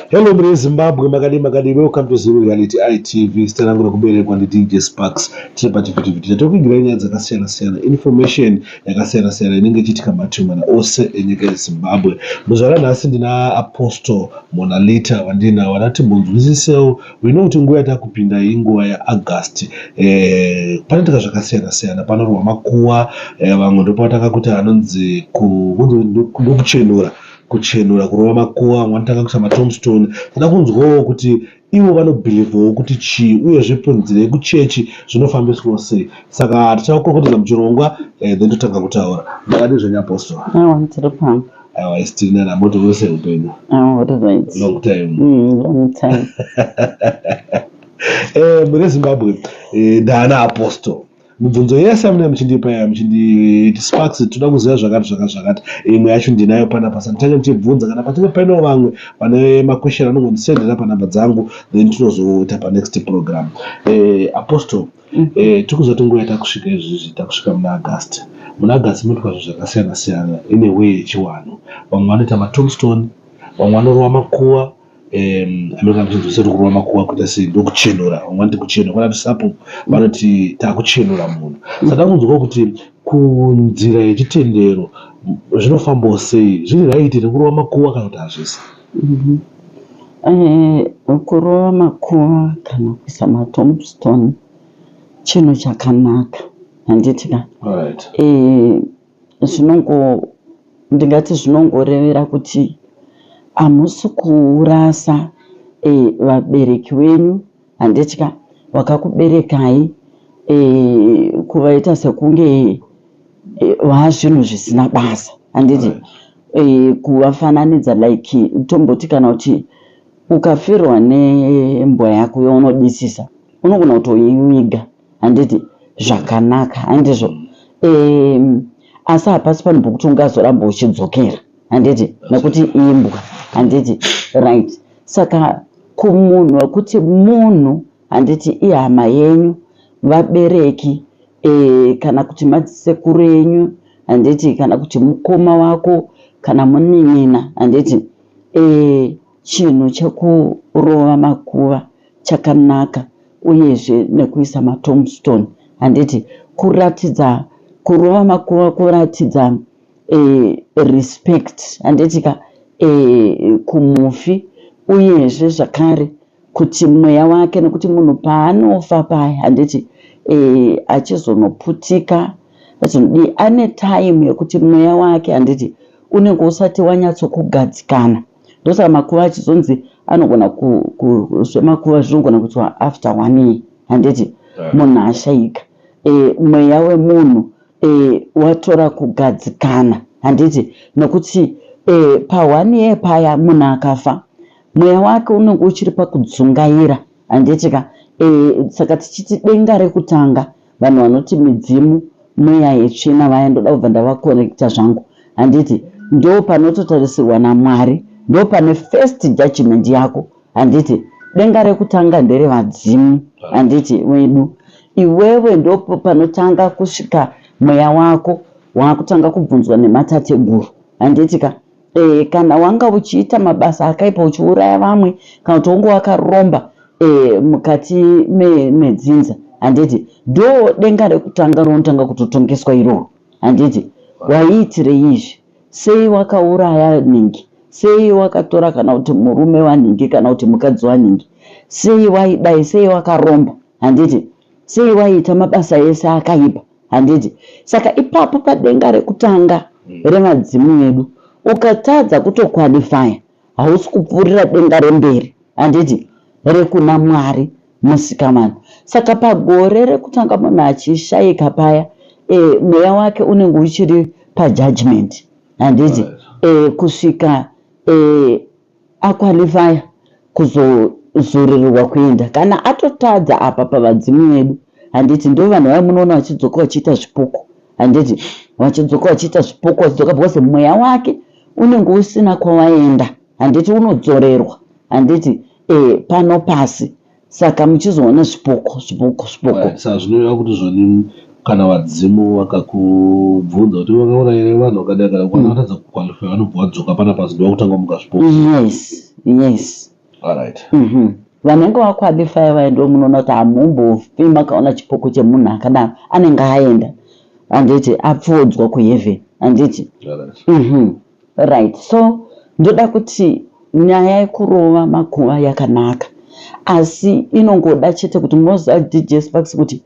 Hello mre Zimbabwe makadi makadi welcome to Zim Reality ITV sita rangu rekuberekwa ndi DJ Sparks tiri pa TV TV tiri kugira nyaya dzakasiyana siyana information yakasiyana siyana inenge ichitika matumana ose enyika yeZimbabwe muzvara nhasi ndina Apostle Monalita wandina wanati munzwisisewo we know kuti nguva yatakupinda iyi nguva yeaugust eh, panoitika zvakasiyana siyana panorwa makuwa eh, vamwe ndopavatanga kuti anonzi ndokuchenura kuchenura kurova makuwa vamwe vanotanga kuita matomstone toda kunzwawo kuti ivo vanobhilivhawo kuti chii uye zvepunzirei kuchechi zvinofambiswawo sei saka tichakukurukutidza muchirongwa eh, then totanga kutaura makadii zvenyu apostora Awa isitori nana moto vose upenyu. Awa ah, right. Long time. Mm, long time. eh mune Zimbabwe eh dana apostle. Mubvunzo yese amene muchindipa ya muchindi sparks toda kuziva zvakati zvakati zvakati. Imwe yacho ndinayo pana pasa nditanga ndichibvunza kana patine paino vamwe pane ma question anongondisendera pa number dzangu then tinozoita pa next program. Eh apostle mm. eh, tiri kuzoti nguva yatakusvika izvizvi takusvika muna agasti muna agasti munoitwa zvinhu zvakasiyana siyana ine way yechiwanhu vamwe vanoita matombstone vamwe vanorova makuva american christians vasati kurova makuva kuita sei ndokuchenura vamwe vanoti kuchenura kwana tisapo vanoti takuchenura munhu saka kunzwa kuti kunzira yechitendero zvinofambawo sei zviri raiti rekurova makuva kana kuti hazvisi Mhm. Eh, kurova makuva kana kuisa matombstone chinhu chakanaka handiti ka Alright. Eh, zvinongo ndingati zvinongorevera kuti hamusi kurasa eh, vabereki wenyu Handitya wakakuberekai e, kuvaita sekunge e, eh, vazvinhu zvisina basa handiti e, kuvafananidza like tomboti kana kuti ukafirwa nembwa yako yaunodisisa unogona kutoiviga handiti zvakanaka handizvo e, asi hapasi panhu pokuti ungazoramba uchidzokera handiti nekuti imbwa handiti right saka kumunhu wekuti munhu handiti ihama yenyu vabereki e, kana kuti madzisekuru enyu handiti kana kuti mukoma wako kana munin'ina handiti e, chinhu chekurova makuva chakanaka uyezve nekuisa matomstone handiti kuratidza kurova makuva kuratidza eh, respect handitika eh, kumufi uyezve zvakare kuti mweya wake nekuti munhu paanofa paya handiti eh, achizonoputika azonodii ane time yekuti mweya wake handiti unenge usati wanyatsokugadzikana ndosaka makuva achizonzi anogona zvemakuva zvinogona kuitwa after one year handiti munhu ashaika e, mweya wemunhu e, watora kugadzikana handiti nokuti e, pahwani ye paya munhu akafa mweya wake unenge uchiri pakudzungaira handiti ka e, saka tichiti denga rekutanga vanhu vanoti midzimu mweya yetsvina vaya ndoda kubva ndavakorekta zvangu handiti ndo panototarisirwa namwari ndo pane first judgment yako handiti denga rekutanga ndere vadzimu handiti wedu iwewe ndopo panotanga kusvika mweya wako wakutanga kubvunzwa nematateguru handiti ka e, kana wanga uchiita mabasa akaipa uchiuraya vamwe kana kuti wonge wakaromba e, mukati medzinza me, handiti do denga rekutanga ronotanga kutotongeswa iroro handiti waiitirei izvi Sei wakauraya nhingi? Sei wakatora kana kuti murume wanhingi kana kuti mukadzi wanhingi? Sei waidai? Sei wakaromba? Handiti? Sei waiita mabasa ese akaipa? Handiti? Saka ipapo padenga rekutanga remadzimu edu ukatadza kutoqualifyer hausi kupfuurira denga remberi handiti rekuna mwari musikavanhu saka pagore rekutanga munhu achishaika paya e, mweya wake unenge uchiri pajudgment handiti e, kusvika e, aqualifya kuzozururirwa kuenda kana atotadza apa pavadzimu vedu handiti ndo vanhu vaya munoona vachidzoka vachiita zvipuku handiti vachidzoka vachiita zvipuku vachidzoka because mweya wake unenge usina kwawaenda handiti unodzorerwa handiti eh, pano pasi saka muchizoona zvipoko zvipoko zvipoko sa zvinoreva kuti zvoni kana vadzimu vakakubvunza kuti vakaona here vanhu vakadai kana kwana vatadza kukwalifya vanobva vadzoka pana pasi ndovakutanga muka zvipoko yes yes Alright. Mhm. Vanenge vaqualify vaye ndo munoona kuti hamumbofi makaona chipoko chemunhu akadaro anenge aenda handiti apfuudzwa kuheaven handiti Alright. Mhm. right so ndoda kuti nyaya yekurova makuva yakanaka asi inongoda chete kuti moziva dj sparks kuti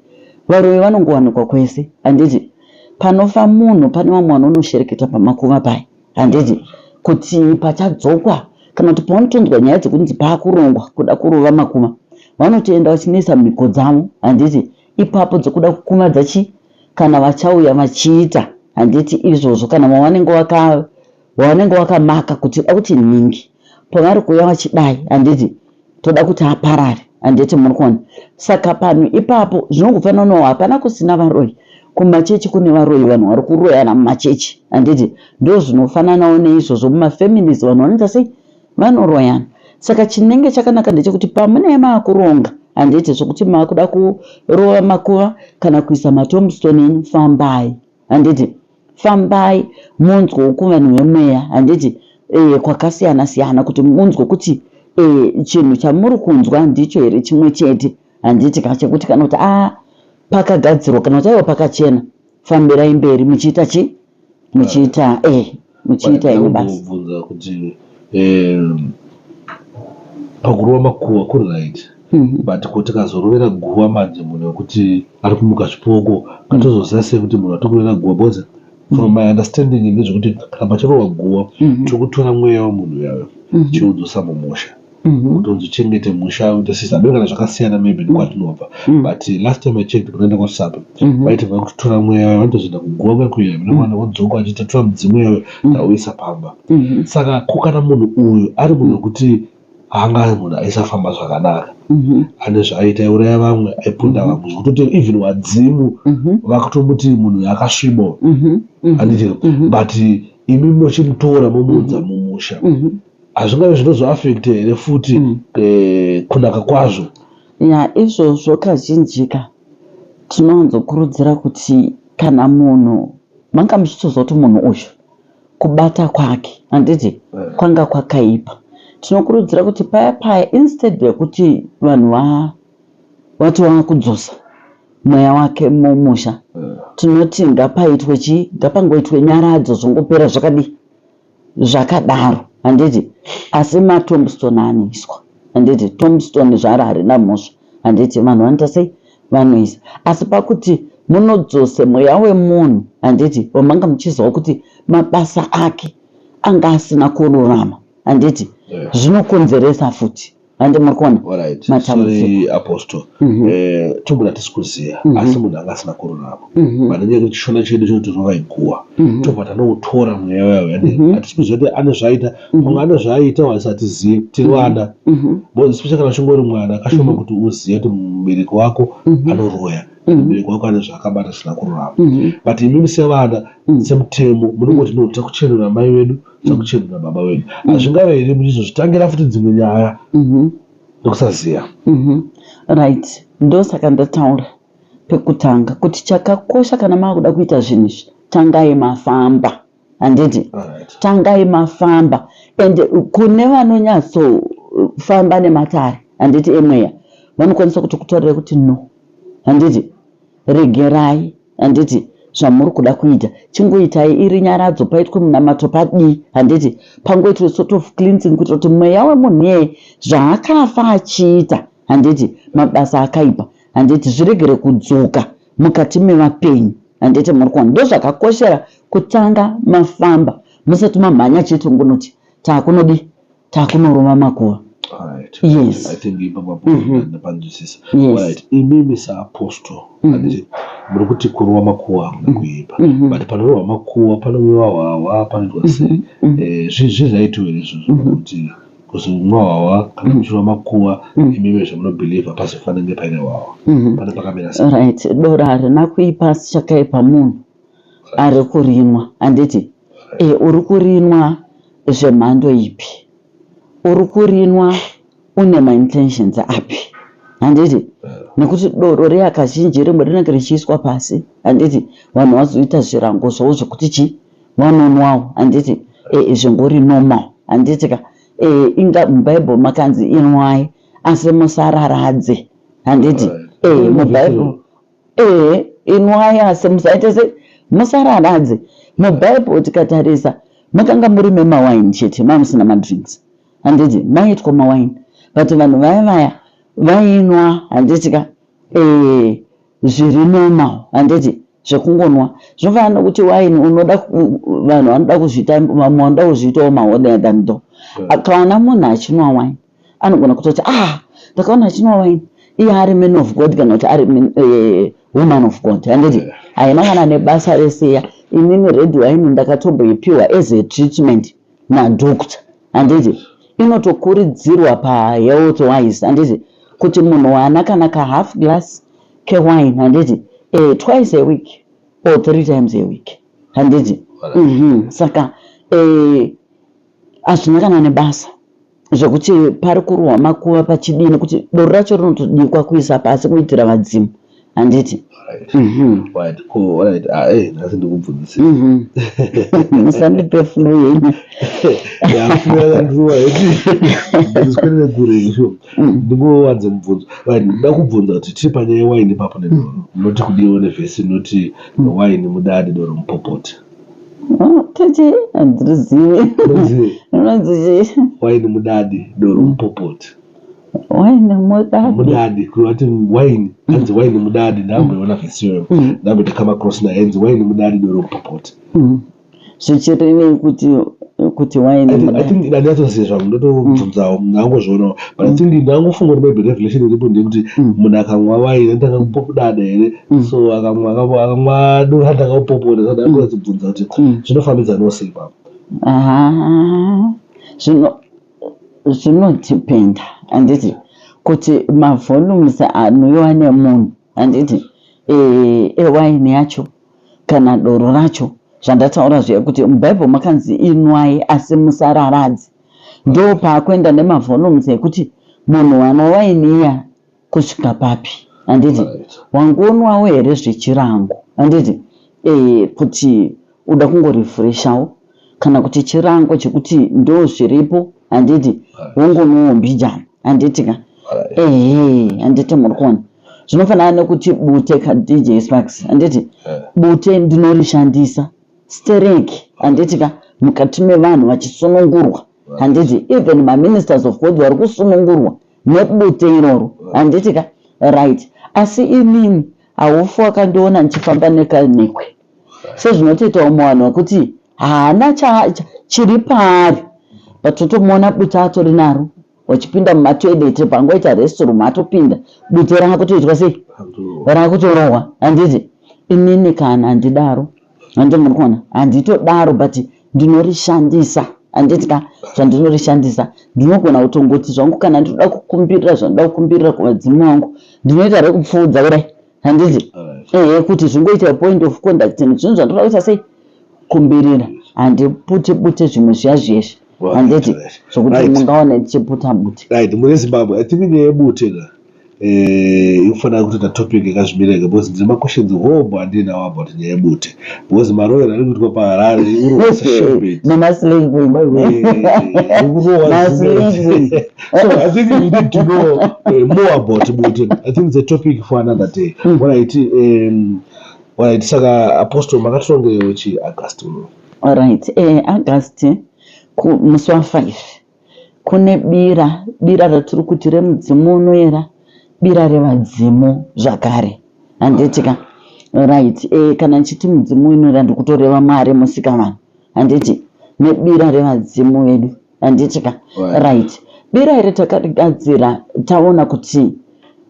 varoyi vanongowanikwa kwese handiti panofa munhu pane vamwe vanonoshereketa pamakuva paya handiti kuti pachadzokwa kana kuti pavanotonzwa nyaya dzekunzi paakurongwa kuda kurova makuma vanotoenda vachinoisa mhiko dzavo handiti ipapo dzekuda kukumadza chi kana vachauya vachiita handiti izvozvo kana vavanenge wakamaka kuti da kuti nhingi pavari kuuya vachidai handiti toda kuti aparare handiti muri kuona saka panhu ipapo zvinongofanira no hapana kusina varoyi kumachechi kune varoyi vanhu vari kuroyana mumachechi handiti ndo zvinofananawo neizvozvo mumafamilies vanhu vanoita sei vanoroyana saka chinenge chakanaka ndechekuti pamunee maakuronga handiti zvekuti maakuda kurova makuva kana kuisa matombstone enyu fambai handiti Fambai munzwewo kuvanhu vemweya handiti eh kwakasiyana siyana kuti munzwe kuti eh chinhu chamuri kunzwa ndicho here chimwe chete handiti ka chekuti kana kuti ah pakagadzirwa kana kuti aiwa pakachena fambirai mberi muchiita chi muchiita eh muchiita ini basi bvunza kuti eh pakurova makuwa kuri right Hmm, but ko tikazorovera guva manje munhu wekuti ari kumuka zvipoko ngatozoziva sei kuti munhu atokurovera guva because from my understanding ndezvekuti kana pachirohwa guva mm-hmm. chokutora mweya wemunhu uyayo mm-hmm. chiudzosa mumusha mm-hmm. kuti uzochengete musha uite sisa ndo kana zvakasiyana maybe ndikwatinobva but last time i checked kunoenda kwasapa vaiti vakutora mweya wayo vanotozoenda kuguva kwekuya mwana vodzoka vachitatora mudzimu yayo tauisa pamba saka ko kana munhu uyu ari munhu wekuti haanga ari munhu aisafamba zvakadaro mhm. ane zvaaita iuraya vamwe aipunda mhm. vamwe zvekutoti even wadzimu mhm. vakutomuti munhu yakasvibo anditiro but imi mochimutora momuudza mumusha hazvingave zvinozoafekte here futi eh, kunaka kwazvo ya izvozvo kazhinjika tinowanzokurudzira kuti kana munhu manga muchitoziva kuti munhu uyu kubata kwake handiti eh. kwanga kwakaipa tinokurudzira kuti paya paya instead yekuti vanhu vati vava kudzosa mweya wake mumusha eh. tinoti ngapaitwe chii ngapangoitwe nyaradzo zvongopera zvakadii zvakadaro handiti asi matombstone aniswa handiti tombstone zvaro harina mhosva handiti vanhu vanoita sei vanoisa asi pakuti munodzose mweya wemunhu handiti wamanga muchiziva kuti mabasa ake anga asina kururama handiti yeah. zvinokonzeresa futi handi muri kuona matambudzikoapostle mhm. eh, tobuda tisi kuziva mhm. asi munhu anga asina kururama mhm. pane nyaya yekuti chishona chedu chinotirova iguwa tobva tanoutora mweya wayo hatisi kuziva kuti ane zvaaita Mhm. pamwe ane zvaaita waisatizive tiri mhm. vana mhm. bo especially kana uchingori mwana kashoma kuti uzive kuti mubereki wako anoroya mubereki wako ane zvaakabata zvisina kururama but imimi sevana semutemo munongoti no takuchenura mai vedu takuchenura baba vedu hazvingave here muchizozvitangira futi dzimwe nyaya nekusaziva right ndosaka ndataura pekutanga kuti chakakosha kana maakuda kuita zvinhu izvi tangai mafamba handiti tangai mafamba and kune vanonyatsofamba nematare handiti emweya vanokwanisa kuti kutorere kuti no handiti regerai handiti zvamuri kuda kuita chingoitai iri nyaradzo paitwe munamato padii handiti pangoitwe sort of cleansing kuitira kuti mweya wemunhu iyeye zvaakafa achiita handiti mabasa akaipa handiti zviregere kudzoka mukati mevapenyu handiti muri kuona ndozvakakoshera kutanga mafamba musati mamhanya chete ngunoti takunodii takunorova makuva yespanzwisisa mhm. imimi saapostle mhm. anditi muri kuti kurova makuwa hamuna mhm. kuipa but panorova makuwa panoviwa hwahwa panoitwa sei eh, zvii zvaitowere izvozvo kuti Because mwawawa kana muchirwa makuwa mm. imimi zvamunobhilivha pasi fanenge paine wawa mm-hmm. pane pakamira sa right dora harina kuipa asi chakaipa munhu ari kurinwa handiti e uri kurinwa zvemhando ipi uri kurinwa une maintentions api handiti nekuti doro reakazhinji rimwe rinenge richiiswa pasi handiti vanhu vazoita zvirango zvavo zvekuti chii vanonwawo handiti e, zvingori normal handiti ka e, inga mubible makanzi inwai asi musararadze handiti e, mubible e, inwai asi musaite se musararadze mubible tikatarisa makanga muri memawaini chete mai musina madrinks handiti maitwa mawaini but vanhu vaya vaya vainwa handiti ka e, zviri normal handiti zvekungonwa zvofana nokuti wine unoda vanhu vanoda kuzviita vamwe vanoda kuzviitawo maoder than tho akaona munhu achinwa wine anogona kutoti ah ndakaona achinwa wine iye ari man of god kana kuti ari eh, woman of god handiti haina kana nebasa reseya imimi red wine ndakatomboipiwa as a treatment nadoctor handiti inotokurudzirwa pahealth wise handiti kuti munhu wana kana kahalf glass kewine handiti uh, twice a week or three times a week handiti mm -hmm. saka hazvina uh, kana nebasa zvekuti pari kurohwa makuva pachidii nekuti doro racho rinotodikwa kuisa pasi kuitira vadzimu handiti musandipe flu yenyu ndingowanze mubvunzo nda kubvunza kuti tiri panyaya yewaini ipapo nedoro munoti kudiwa nevhesi inoti waini mudadi doro mupopoti tete handizivi rinonzi waini mudadi doro mupopoti waini mudadi mudadi kurati waini hanzi waini mudadi ndamboiona vesiyo mm. ndamboita kama cross naye hanzi waini mudadi doro mupopoti mm. zvichiri nei kuti kuti wainendatoziva zvangu ndotobvunzawo mm. ndangozvionawo but i think mm. ndangofunga kuti maybe revelation iripo ndekuti mm. munhu akanwa waini ndakangopopudada here Mm. so akamwadura ndakapoporesa ndakuratibvunza mm. kuti mm. zvinofambidza nose ipapo zvinodependa handiti kuti mavolumes anouyiwa nemunhu handiti eh, ewaini yacho kana doro racho zvandataura zviya kuti mubhaibheri makanzi inwai asi musararadzi ndo paakuenda nemavolumes ekuti munhu wana waini iya Kusvika papi handiti? Wangonwawo here zvechirango handiti? Ehe kuti uda kungorefreshawo kana kuti chirango chekuti ndozviripo handiti? Wongonwawo mbijana handiti ka? Ehe handiti muri kuona? Zvinofanana nekuti bute ka DJ Sparks handiti? Bute ndinorishandisa stereki handiti ka mukati mevanhu vachisunungurwa handiti even maministers of god vari kusunungurwa nebute iroro handiti ka right asi inini haufu wakandiona ndichifamba nekanekwe sezvinotoita umwe vanhu vekuti haana chiri paari but totomuona bute atori naro wachipinda mumatoilet pangoita restroom atopinda bute raakutoitwa sei raakutorohwa handiti inini kana handidaro Handiti muri kuona? Handitodaro but ndinorishandisa. Handiti ka zvandinorishandisa ndinogona kutongoti zvangu kana ndinoda kukumbirira zvandinoda kukumbirira kuvadzimu vangu ndinoita rekupfuudza kudai. Handiti? Ehe kuti zvingoita point of conduct zvinhu zvandinoda kuita sei? Kumbirira. Handipute pute zvimwe zviya zviyezvi. handiti sokuti mungaone tichiputa bute right mune zimbabwe i think nyaya yebute ka eh, ikufanira kutoita topic yakazvimirega because ndine maquestions hombo andiinawo about nyaya yebute because maroyero ari kuitwa paharare more about bute i think it's a topic for another day mm. what i um, what i saka apostle makatongeyochi august uno Alright, eh, August musi wa 5 kune bira, bira ratiri kuti remudzimu unoera, bira revadzimu zvakare. Handitika. Right, eh, kana chiti mudzimu unoera ndikutoreva Mwari musika vanhu. Handiti nebira revadzimu vedu. handiti ka right bira iri takarigadzira taona kuti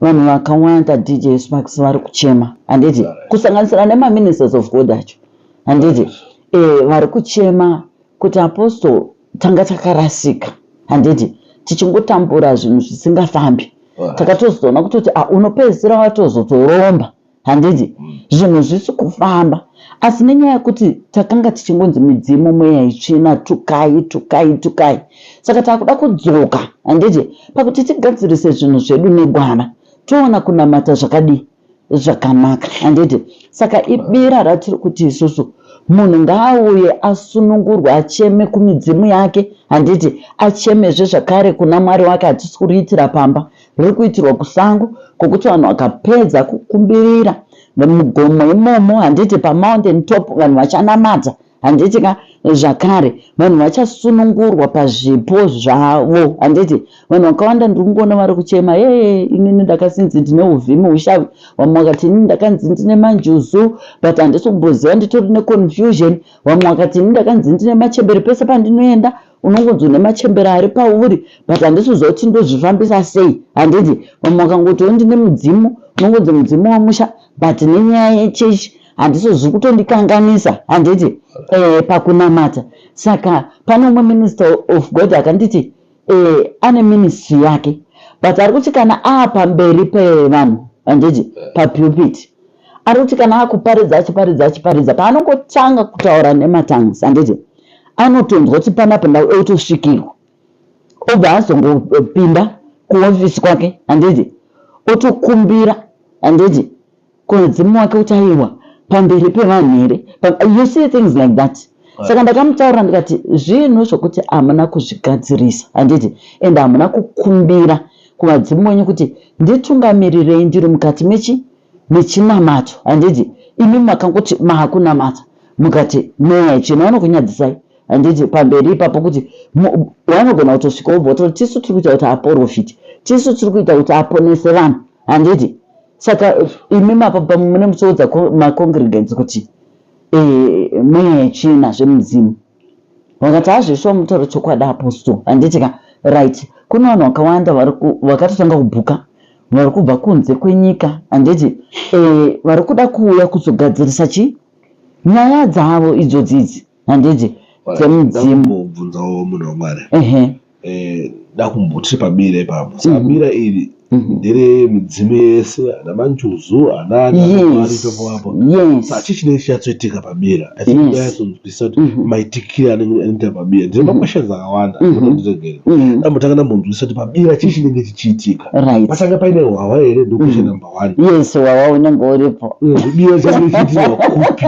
vanhu vakawanda dj sparks vari kuchema handiti kusanganisira nemaministers of god acho handiti eh, vari kuchema kuti apostle tanga takarasika handiti tichingotambura zvinhu zvisingafambi takatozoona kutoti ah, unopedzisira watozotoromba handiti mm. zvinhu zvisi kufamba asi nenyaya yekuti takanga tichingonzi midzimu mweya itsvina tukai tukai tukai saka takuda kudzoka handiti pakuti tigadzirise zvinhu zvedu negwara toona kunamata zvakadii zvakanaka handiti saka ibira ratiri kuti isusu munhu ngaauye asunungurwe acheme kumidzimu yake handiti achemezve zvakare kuna mwari wake hatisi kuriitira pamba riri kuitirwa kusango kwokuti vanhu vakapedza kukumbirira mugomo imomo handiti pamountain top vanhu vachanamata handiti ka zvakare vanhu vachasunungurwa pazvipo zvavo handiti vanhu vakawanda ndiri kungoona vari kuchema ee inini ndakasinzi ndine uvhimi ushavi vamwe vakati inini ndakanzi ndine manjuzu but handisi kumboziva nditori neconfusion vamwe vakati inini ndakanzi ndine machembere pese pandinoenda unongonzi une machembere ari pauri but handisiziva kuti ndozvifambisa sei handiti vamwe vakangotiwo ndine mudzimu unongonzi mudzimu wamusha but nenyaya yechechi handisizi kutondikanganisa handiti eh, pakunamata saka pane umwe minister of god akanditi eh, ane ministry yake but ari kuti kana aapamberi pevanhu handiti papupiti anoti kana akuparidza achiparidza achiparidza paanongotanga kutaura nematangs handiti anotonzwa kuti panapa ndau otosvikirwa obva azongopinda kuofisi kwake handiti otokumbira handiti kuadzimu wake kuti aiwa pamberi pevanhu here you see things like that saka ndakamutaurira ndikati zvinhu zvokuti hamuna kuzvigadzirisa handiti and hamuna kukumbira kuvadzimu wenyu kuti nditungamirirei ndiri mukati mechi mechinamato handiti imi makangoti maakunamata mukati mweya yachena vanokunyadzisai handiti pamberi ipapo kuti wanogona kutosvika wobva wototi tisu tiri kuita kuti aporofiti tisu tiri kuita kuti aponese vanhu handiti saka imi mapapa mune musoudza macongregants kuti e, mweya yechena zvemudzimu vakati hazvo shuwa mutauro chokwadi apostle handiti ka right kune vanhu vakawanda vakatotanga kubhuka vari kubva kunze kwenyika handiti e, vari kuda kuuya kuzogadzirisa chi nyaya dzavo idzodzidzi handiti dzemudzimu ehe eh, dakumbo tiri pabira ipapo saka Mhm. bira iri Mhm. ndere midzimu yese ana manjuzu ana ana Yes. anamwari ipapo apo Yes. saka chii chinenge chinyatsoitika pabira i think Yes. yes. nyatsoziwisisa kuti Mhm. maitikire anenge anoita pabira ndine Mhm. makweshens akawanda Mhm. anondiregera Mhm. ndambotanga ndambonzwisisa kuti pabira chii chinenge chichiitika Right. patanga paine hwahwa here ndokwesha Mhm. number one Yes, wawa unenge uripo. bira change chiitirwa kupi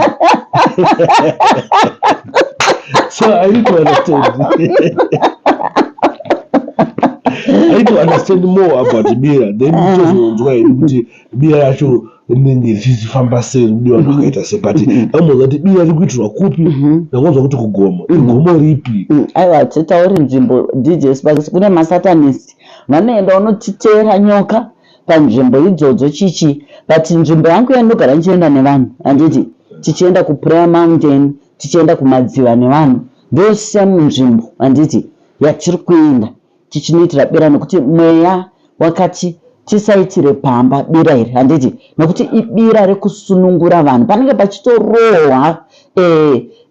so I need to understand. I need to understand more about beer. Then ah. tozonzwa hedu kuti beer yacho inenge ichifamba sei kuti vanhu vakaita sei but amwe kuti beer riri kuitirwa kupi mhm. ndakonzwa kuti kugomo mhm. igomo ripi mm, aiwa titauri nzvimbo dj sparks kune masatanist vanoenda unotiteera nyoka panzvimbo idzodzo chichi but nzvimbo yangu yandinogara ndichienda nevanhu handiti tichienda kuprayer mountain tichienda kumadziva nevanhu ndo same nzvimbo handiti yatiri kuenda tichinoitira bira nokuti mweya wakati tisaitire pamba bira iri handiti nokuti ibira rekusunungura vanhu panenge pachitorohwa e,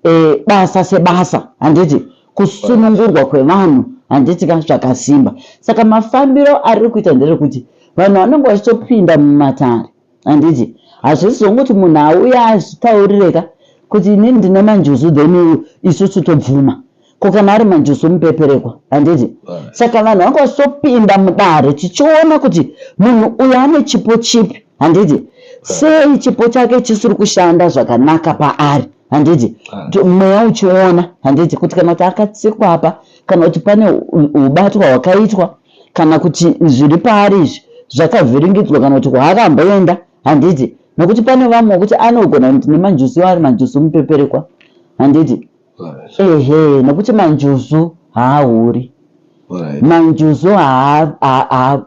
e, basa sebasa handiti kusunungurwa kwevanhu handiti ka zvakasimba saka mafambiro ariri kuita nderekuti vanhu vanenge vachitopinda mumatare handiti hazvisi zvonguti munhu auya azvitaurire ka kuti inini ndine manjuzu then isusu tobvuma ko kana ari manjuzu mupeperekwa handiti saka vanhu vanga vachitopinda mudare tichiona kuti munhu uyo ane chipo chipi handiti eh. sei chipo chake chisiri kushanda zvakanaka paari handiti ah. mweya uchiona handiti kuti kana kuti akatsikwa apa kana kuti pane ubatwa hwakaitwa kana kuti zviri paari izvi zvakavhiringidzwa kana kuti kwaakamboenda handiti nokuti pane vamwe wekuti anogona kuti nemanjusi iwo ari manjusi mupeperekwa handiti ehe nokuti manjuzu haahuri manjuzu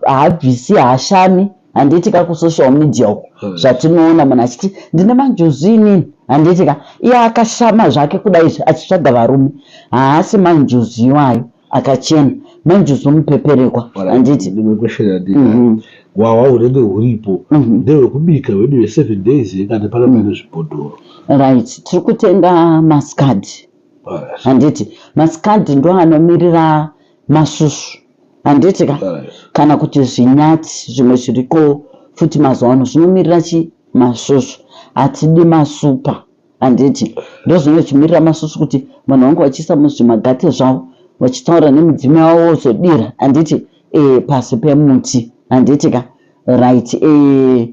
haabvisi haashami handiti ka kusocial media uko zvatinoona munhu achiti ndine manjuzu inini handiti ka iye akashama zvake kudaizvi achitsvaga varume haasi manjuzu iwayo akachena manje uzomupeperekwa handiti ndimwe question yandina Mhm. hwahwa hunenge huripo Mhm. ndehwekubika hwedu hweseven days here kana pana pane zvibhodhoro right tiri kutenga maskad Alright, handiti maskad ndo anomirira masusu handiti ka alright. kana kuti zvinyati zvimwe zviriko futi mazuva ano zvinomirira chi masusu hatidi masupa Handiti ndozvinochimirira masusu kuti vanhu vangu vachiisa muzvimagate zvavo vachitaura nemidzimu yavo vozodira handiti e, pasi pemuti handiti ka right e, eh,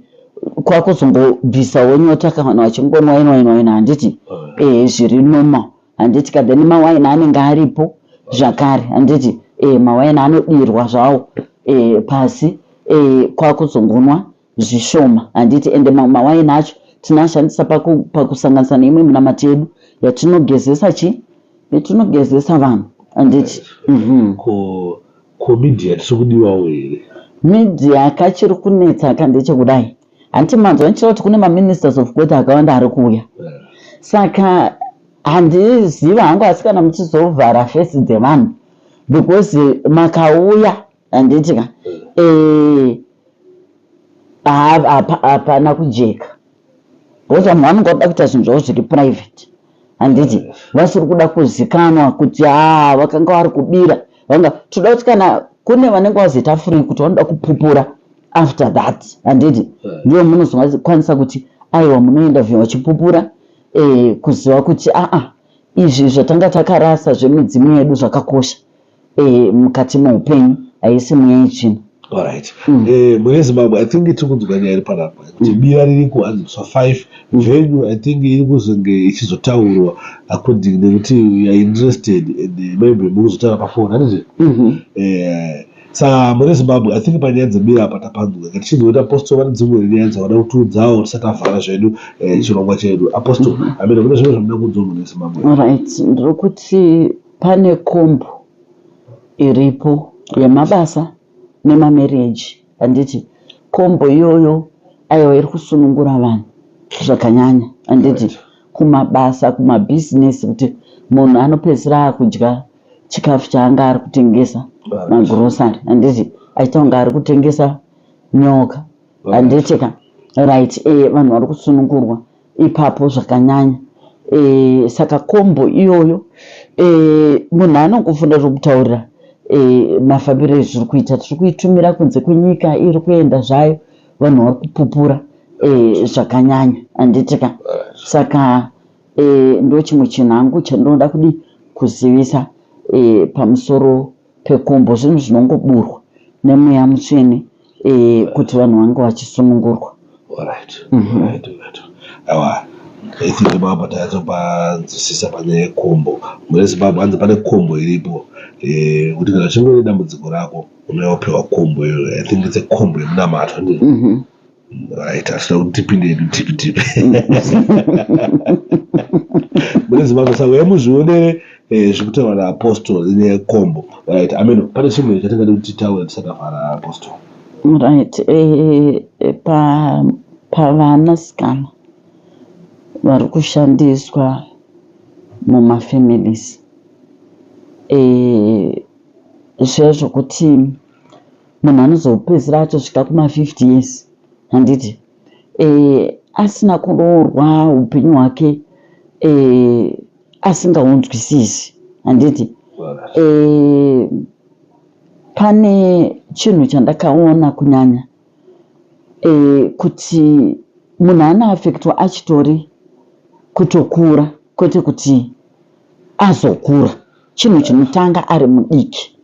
kwakuzongobvisawo nyota ka vanhu vachingonwa waini waini waini handiti e, zviri normal handiti ka then mawaini anenge aripo zvakare handiti e, mawaini anodirwa zvawo e, pasi e, kwakuzongonwa zvishoma handiti ende mamwe mawaini acho tinoashandisa pakusanganisa paku neimwe minamati yedu yatinogezesa chi yatinogezesa vanhu handiti mm -hmm. ko ko media tiri kudiwawo here media kachiri kunetsa ka ndechekudai hanti manzwa ndichira kuti kune maministers of god akawanda ari kuuya saka handiziva hangu asi kana muchizovhara fesi dzevanhu because makauya handiti ka eh, hapana kujeka because vamwe vanonga kuda kuita zvinhu zvavo zviri private handiti vasiri kuda kuzikanwa kuti haa vakanga vari kubira vanga toda kuti kana kune vanenge vazoita free kuti vanoda kupupura after that handiti ndivo munozokwanisa kuti aiwa munoenda vyo vachipupura eh, kuziva kuti aa izvi zvatanga takarasa zvemidzimu yedu zvakakosha eh, mukati meupenyu haisi mweya yetsvina Alright. Mm. Eh, mune Zimbabwe I think tiri kunzwa nyaya iri panapa kuti mm. bira riri kuhanziswa five mm. venue I think iri kuzenge ichizotaurwa according nekuti you are interested and eh, maybe mukuzotaura pafoni handiti mm -hmm. eh, sa mune Zimbabwe I think panyaya dzebira apa tapanzwa ngati chizoita apostle vane dzimwe nyaya dzavada kutiudzawo tisati tavhara zvedu eh, chirongwa chedu apostle mm -hmm. amene kune zvimwe zvamuda kunzwa mune Zimbabwe right ndiri kuti Pane comb iripo yemabasa nema marriage handiti comb iyoyo aiwa iri kusunungura vanhu zvakanyanya handiti kumabasa kuma business kuti munhu anopedzisira akudya chikafu chaanga ari kutengesa ma grocery handiti aita kunge ari kutengesa nyoka handiti ka right eh vanhu vari kusunungurwa ipapo zvakanyanya e, saka kombo iyoyo e, munhu anongofunda zvokutaurira e, eh, mafambiro ezviri kuita tiri kuitumira kunze kwenyika iri kuenda zvayo vanhu vari kupupura e, zvakanyanya handiti ka saka e, ndo chimwe chinhu hangu chandinoda kudi kuzivisa e, pamusoro pekumbo zvinhu zvinongoburwa nemweya mutsvene eh, kuti vanhu vange vachisunungurwa Alright, Mhm. alright, alright. Awa, I think baba tayatso panzwisisa panyaya yekombo. Mune Zimbabwe hanzi pane kombo iripo. Eh, kuti kana chingori dambudziko rako unouya wopiwa kombo iyoyo. I think it's a kombo yemunamato. ndiyo? Mhm. Right, asina kuti tipinde hedu tipi tipi. Mune Zimbabwe saka uya muzvionere eh, zviri kutaurwa naApostle nekombo. Right, I mean pane chimwe chatingade kuti titaure tisakavhara Apostle. Right, eh, eh, pa pavanasikana vari kushandiswa mumafamilies eh, zviya zvokuti munhu anozopedzisira atosvika kuma50 years handiti e, asina kuroorwa upenyu hwake e, asingaunzwisisi handiti e, pane chinhu chandakaona kunyanya e, kuti munhu anoafektwa achitori kutokura kwete kuti azokura chinhu chinotanga ari mudiki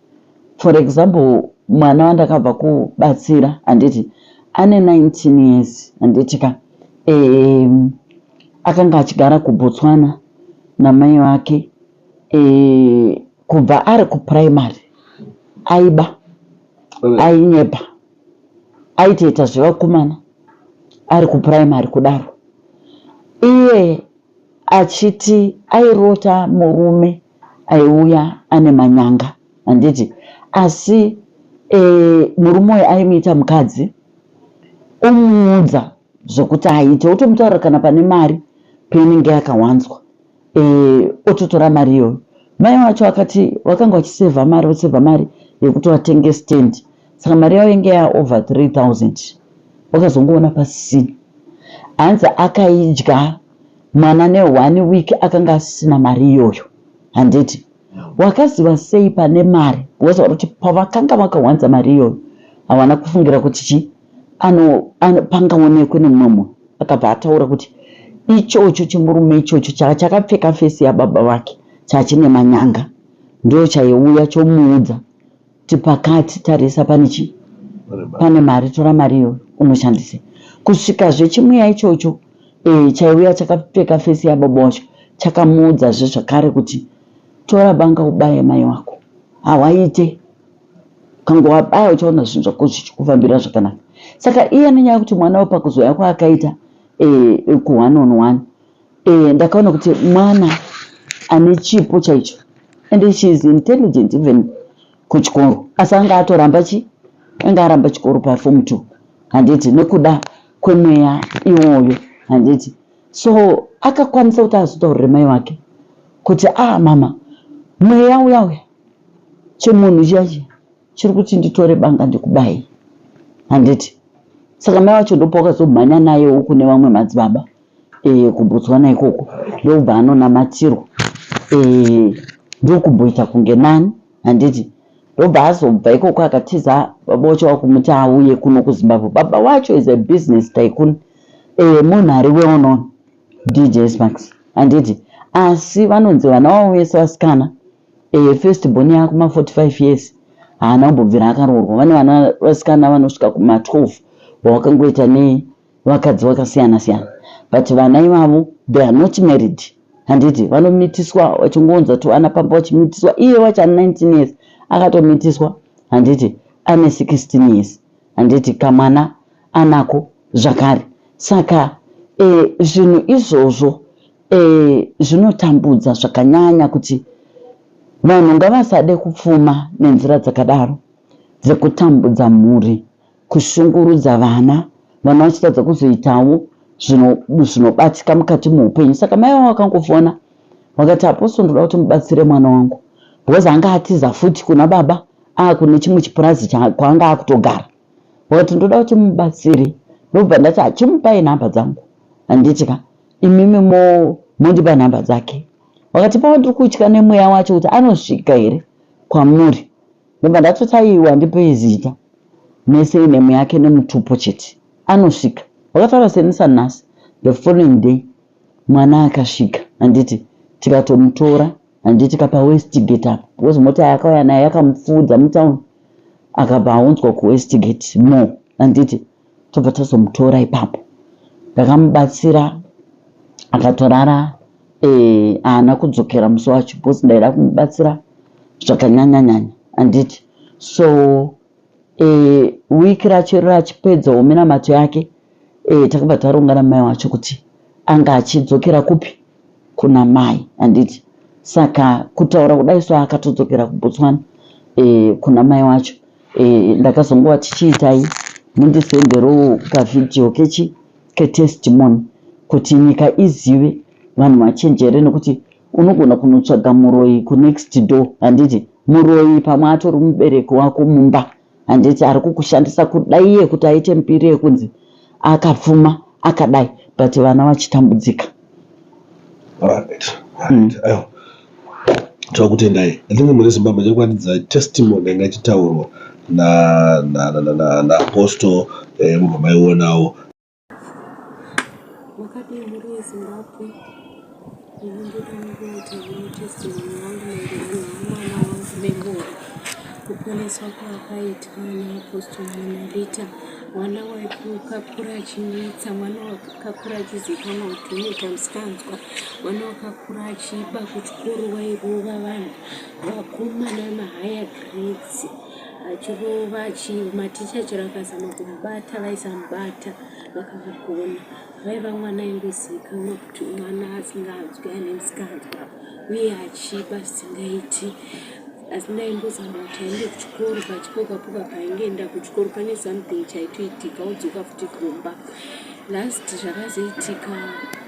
for example mwana wandakabva kubatsira handiti ane 19 years handiti ka um, akanga achigara kubotswana namai vake um, kubva ari kuprimary aiba ainyepa aitoita zvevakomana ari kuprimary kudaro iye achiti airota murume aiuya ane manyanga handiti asi e, murume uyu aimuita mukadzi omuudza zvokuti aite otomutaura kana pane mari peinenge yakawanzwa e, ototora mari iyoyo mai wacho akati wakanga wachisevha mari wosevha mari yekuti watenge stand saka mari yavo inge ya over 3000 wakazongoona pasisina hanzi akaidya mwana ne one week akanga asisina mari iyoyo handiti wakaziva sei pane mari because wakuti pavakanga vakawanza mari iyoyo havana kufungira kuti chi ano, ano pangaonekwe nemumwe munhu akabva ataura kuti ichocho chimurume ichocho chaka chakapfeka fesi yababa vake chachine manyanga ndo chaiuya chomuudza tipakati tarisa pane chii pane mari tora mari iyo unoshandise kusvika zvechimuya ichocho e, chaiuya chakapfeka fesi yababa wacho chakamuudza zve zvakare kuti tora banga ubaye mai wako hawaite kange wabaya uchaona zvinhu zvako zvichikufambira zvakanaka saka iye nenyaya yekuti mwana wepakuzoya kwaakaita e, kuone on one Eh, ndakaona kuti mwana ane chipo chaicho and she is intelligent even kuchikoro asi anga atoramba chi anga aramba chikoro pafom two handiti nekuda kwemweya iwoyo handiti so akakwanisa kuti azotaurire mai wake kuti a ah, mama mweya uya uya chemunhu chiya chiya chiri kuti nditore banga ndikubayi handiti saka mai wacho ndopo wakazomhanya naye uku nevamwe madzibaba e, kuBotswana ikoko ndokubva anonamatirwa e, ndokumboita kunge nani handiti ndobva azobva ikoko akatiza baba wacho wakumuti auye kuno kuzimbabwe baba wacho is a business tycoon e, munhu ari weonon dj smax handiti asi vanonzi vana wavo vese vasikana e, first born yakuma 45 years haana kumbobvira akaroorwa vane vana vasikana vanosvika kuma 12 vawakangoita nei vakadzi vakasiyana siyana but vana ivavo they are not married handiti vanomitiswa vachingounza tuvana pamba vachimitiswa iye wacho ane 19 years akatomitiswa handiti ane 16 years handiti kamwana anako zvakare saka eh, zvinhu e, izvozvo eh, zvinotambudza e, zvakanyanya kuti vanhu ngavasade kupfuma nenzira dzakadaro dzekutambudza mhuri kushungurudza vana vana vachitadza kuzoitawo zvinobatika mukati meupenyu saka mai vavo vakangofona vakati apostle ndoda kuti mubatsire mwana wangu because anga atiza futi kuna baba akune chimwe chipurazi kwaanga akutogara vakati ndoda kuti mubatsire ndobva ndati achimupai nhamba dzangu handiti ka imimi mondipa nhamba dzake vakati pava ndiri kutya nemweya wacho kuti anosvika here kwamuri Ndobva ndatoti aiwa ndipei zita. Mese inemu yake nemutupo chete. Anosvika. Wakataura senisa nhasi. The following day mwana akasvika handiti tikatomutora handiti kapa westgate apa because mota yaakauya nayo yakamupfuudza mutown akabva aunzwa kuwestgate more handiti tobva tazomutora ipapo ndakamubatsira akatorara eh, haana eh, kudzokera musi wacho because ndaida kumubatsira zvakanyanya nyanya handiti so eh, wiki racho rachipedza ominamato yake eh, takabva taronga namai wacho kuti anga achidzokera kupi Kuna mai handiti saka kutaura kudai so akatodzokera kuBotswana eh, kuna mai wacho eh, ndakazongova tichiitai mundisenderowo kavhidhiyo kechi ketestimony kuti nyika izive vanhu vachenjere nekuti unogona kunotsvaga muroyi kunext door handiti muroyi pamwe atori mubereki wako mumba handiti ari kukushandisa kudai iye kuti aite mbiri yekunzi akapfuma akadai but vana vachitambudzika hmm. tokutendai atinge mune zimbabwe chekwanidza testimony yanga ichitaurwa naapostle eh, mubva maionawo Makadii mhuri yeZimbabwe? Ndinoda kuita testimony yangu maererano nemwana wangu Bengowa. Kuponeswa kwakaitwa naApostle Monalita, mwana wakakura achinetsa, mwana wakakura achizikanwa kuti unoita musikanzwa, mwana wakakura achiba kuchikoro wairova vanhu, vakomana mahigher grades. achirova achii maticha chero akazama kumubata vaisamubata vakamugona vaiva mwana aingozivikanwa kuti mwana asinganzwi ane msikanzwa uye achiba zvisingaiti asi ndaimbozama kuti aende kuchikoro pachipokapoka paingeenda kuchikoro pane something chaitoitika odzoka futi kumba last zvakazoitika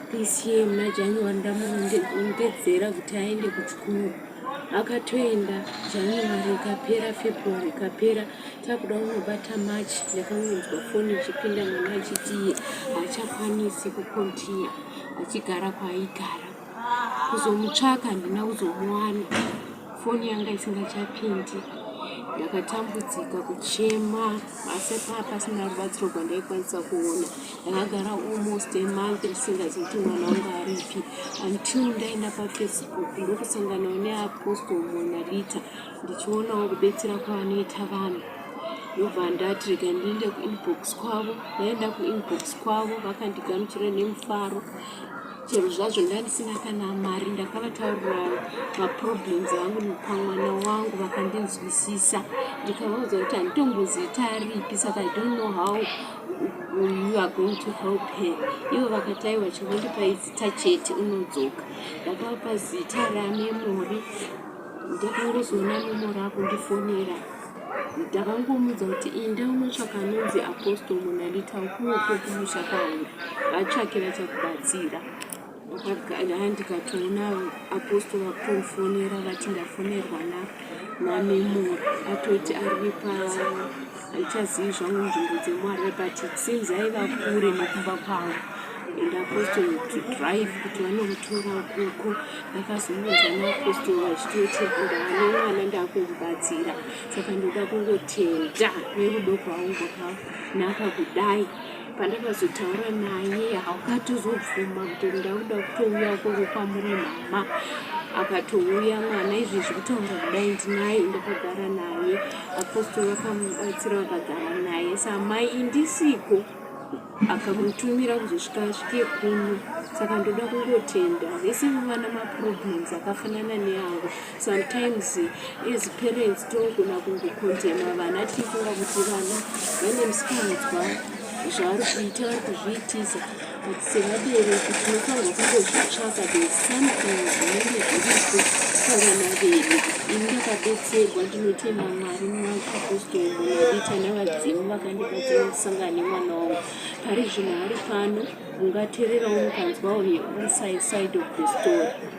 pcm najanuary ndamurongedzera kuti aende kuchikoro akatoenda january ikapera february ikapera takuda unobata march ndakangonzwa foni ichipinda mwana achitiye hachakwanisi kukontinya achigara kwaaigara kuzomutsvaka handina kuzomuwana foni yanga isingachapindi ndakatambudzika kuchema asi paa pasina rubatsiro rwandaikwanisa kuona ndakagara almost a month ndisingazi kuti mwana wangu aripi until ndaenda pafacebook ndokusanganawo neapostle monalita ndichionawo kubetsera kwavanoita vanhu ndobva ndati rega ndiende kuinbox kwavo ndaenda kuinbox kwavo vakandigamuchira nemufaro chero zvazvo ndandisina kana mari ndakavataurira maproblems angu pamwana wangu vakandinzwisisa ndikavaudza kuti handitomboziita aripi saka i don't know how you are going to help her ivo vakati aiwa chingondipai zita chete unodzoka ndakapa zita ramemori ndakangozoona memori akundifonera ndakangomudza kuti inda unotsvaka anonzi apostle monalita ukuwo kwekumusha kwauri vatsvakira chakubatsira ndikatoona apostle vakutofonera vati ndafonerwa na namemora atoti ari pa haichazivi zvangu nzvimbo dzemwari but since aiva kure nekumba kwavo and apostle to drive kuti vanomutora ukoko ndakazomuudza naapostle vachitoti ndane mwana ndakumubatsira saka ndoda kungotenda nerudo kwaungo ka naka kudai pandakazotaura naye akatozobvuma kuti ndauda kutouya ukoko kwamuri mama akatouya mwana izvi zvekutaura kudai ndinaye ndakagara naye apostori vakamubatsira vakagara naye samai indisiko akamutumira kuzosvika asvike kuno saka ndoda kungotenda vese vana maproblems akafanana neavo Sometimes as parents tinogona kungokondema vana tichifunga kuti vana vane musikanzwa zvavari kuita vari kuzviitisa but sevabereki tinofanirwa kungozvitsvaka the something zvinenge zviripo pavana vedu ini ndakabetserwa ndinotenda mwari mwaapostolonadita nevadzimu vakandibatsira kusangana nemwana wangu pari zvinhu ari pano ungatererawo mukanzwawo he on side of the story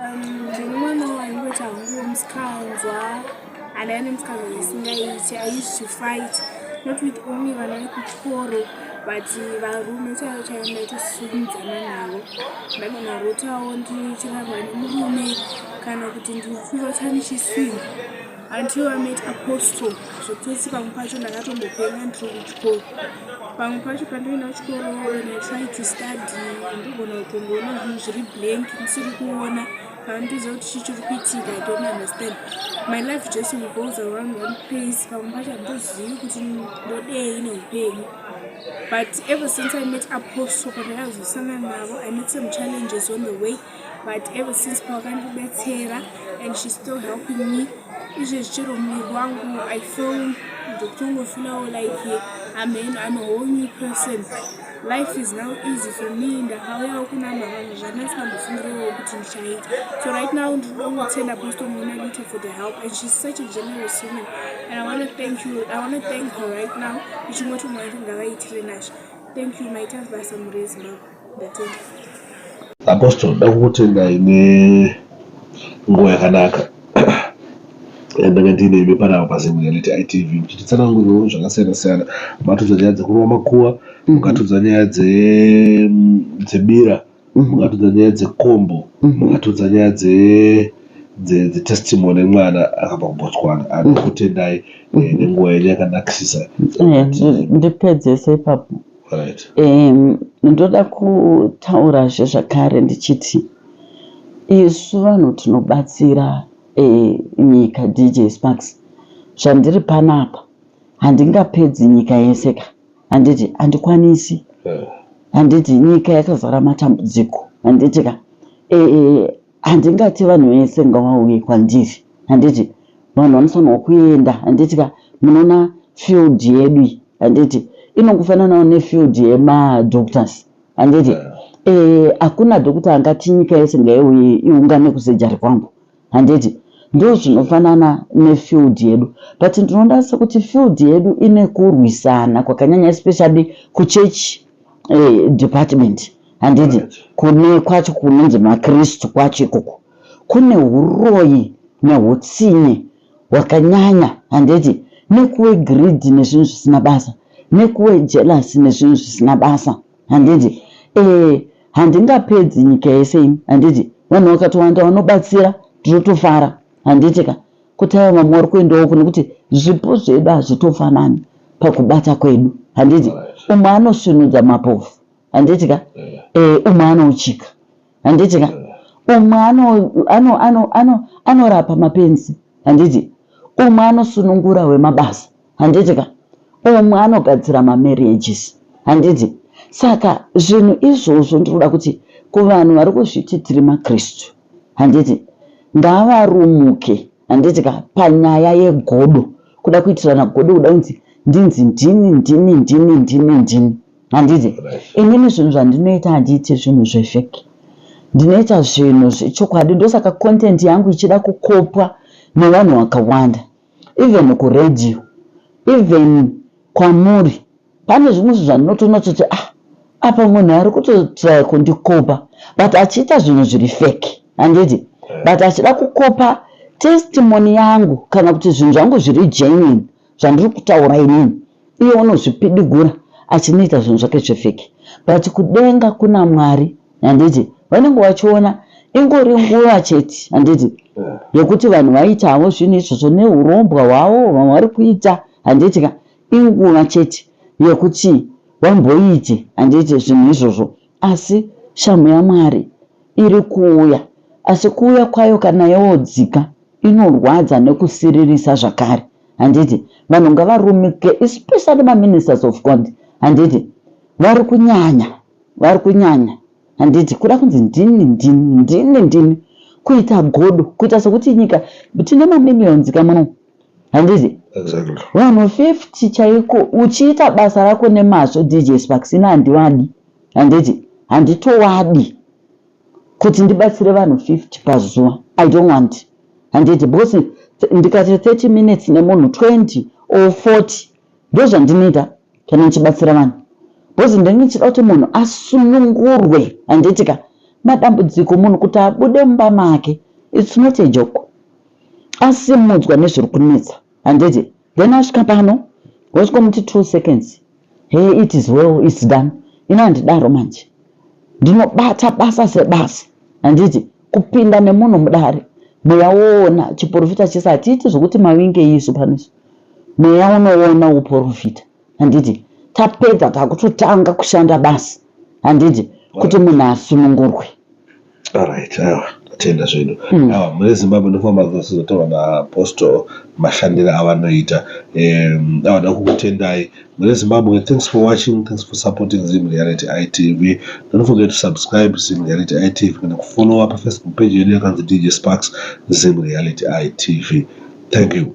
Um, ndiri mwana waingoita hangu musikanzwa and ane musikanzwa isingaiti i used to fight not with only vana vekuchikoro but varume chaivo chaivo ndaitosunzana navo ndagona rotawo ndichirarwa nemurume kana kuti ndikuvatanichisinga until i met apostle zvekuti pamwe pacho ndakatombopenga ndiri kuchikoro pamwe pacho pandoenda kuchikoro when i try to study ndogona kutongoona zvinhu zviri blank ndisiri kuona pandiza kuti chi chiri kuitika i don't understand my life just revolves around one place pamwe pacho handozivi kuti ndodei neupenyu but ever since i met apostle pandakazosangana navo i met some challenges on the way but ever since pawakandibetsera and she still helping me izvezvi chero muviri wangu i feel ndokutongofeelawo like amheno am a whole new person life is now easy for me ndakauyawo kuna mavanga zvandasingambofungirewo kuti ndichaita so right now ndinongotenda apostomona lite for the help and she's such a generous woman and i want to thank you i want to thank her right now ichingoti mwari ngavaitire nazvo thank you maita basa murezimbabwe Apostle ndakukutendai nenguva yakanaka yandanga ndiine imi panapa paZim Reality ITV muchititsanangurirawo zvakasiyana siyana matudza nyaya dzekurova makuva mukatudza nyaya dzebira mukatudza nyaya dzekombo mukatudza nyaya dze dzetestimony mwana akabva kubotswana anokutendai eh, nenguva yenyu yakanakisisa eh, ndipedzese ipapo right. um, ndoda kutaurazve zvakare ndichiti isu vanhu tinobatsira um, nyika dj sparks zvandiri panapa handingapedzi nyika yese ka handiti handikwanisi handiti nyika yakazara matambudziko handiti ka um, Handingati vanhu vese ngavauye kwandiri handiti vanhu vanofanirwa kuenda handiti ka munoona field yedu iyi handiti inongofananawo nefield yemadoctors handiti yeah. Eh, hakuna e, dhokuta angati nyika yese ngaiuye iungane kusejari kwangu handiti ndo zvinofanana nefield yedu but ndinoda sekuti field yedu ine kurwisana kwakanyanya especially kuchechi eh, department handiti kune kwacho kunonzi makristu kwacho ikoko kune uroyi neutsinye hwakanyanya handiti nekuwe greed nezvinhu zvisina basa nekuwe jealous nezvinhu zvisina basa handiti eh, handingapedzi nyika yese ini handiti vanhu vakatowanda vanobatsira ndinotofara handiti ka Kutaura mamwe wari kuendawo uku nekuti zvipo zvedu hazvitofanani pakubata kwedu handiti umwe anosvinudza mapofu handiti ka eh, umwe anouchika handiti ka umwe anorapa mapenzi handiti umwe anosunungura wemabasa handiti ka umwe anogadzira mamarriages handiti saka zvinhu izvozvo ndinoda kuti kuvanhu vari kuzviti tiri makristu handiti ngavarumuke handiti ka panyaya yegodo kuda kuitirana godo kuda kunzi ndinzi ndini ndini ndini ndini ndini handiti inini zvinhu zvandinoita handiiti zvinhu zvefeki ndinoita zvinhu zvechokwadi ndosaka content yangu ichida kukopwa nevanhu vakawanda even ku radio even kwamuri pane zvimwe zvinhu zvandinotoona kuti ah apa munhu ari kutotraya kundikopa but achiita zvinhu zviri fake handiti but achida kukopa testimony yangu kana kuti zvinhu zvangu zviri genuine zvandiri kutaura inini Iye unozvipidigura achinoita zvinhu zvake zvefeki but kudenga kuna Mwari handiti vanenge vachiona ingori nguva chete handiti yekuti vanhu vaitavo zvinhu izvozvo neurombwa hwavo vamwe vari kuita handiti ka inguva chete yekuti vamboite handiti zvinhu izvozvo asi shamhu yaMwari iri kuuya asi kuuya kwayo kana yodzika inorwadza nekusiririsa zvakare handiti vanhu ngavarumike especially maministers of god handiti vari kunyanya vari kunyanya handiti kuda kunzi ndini ndini ndini ndini kuita godo kuita sekuti nyika tine mamillions ka muno handiti vanhu 50 chaiko uchiita basa rako nemazvo dj sparksina handivadi handiti handitowadi kuti ndibatsire vanhu 50 pazuva i don't want handiti because ndikati 30 minutes nemunhu 20 or 40 ndozvandinoita kana ndichibatsira vanhu because ndenge ndichida kuti munhu asunungurwe handiti ka madambudziko munhu kuti abude mumba make its not a joke asimudzwa nezviri kunetsa handiti then asvika pano wosvikomuti two seconds hey it is well its done ino handidaro manje ndinobata basa sebasa handiti kupinda nemunhu mudare mweya woona chiporofita chese hatiiti zvokuti mawinge isu panoisu mweya unoona uporofita handiti tapedza takutotanga kushanda basi handiti kuti munhu asunungurwe alright awa tatenda zvedu hmm. awa mune zimbabwe ndofamba kuzotaura naapostle mashandiro avanoita awa da kukutendai mune zimbabwe thanks for watching thanks for supporting zim reality itv don't forget to subscribe zim reality itv kana kufollowa pafacebook page yedu yakanzi dj sparks zim reality itv thank you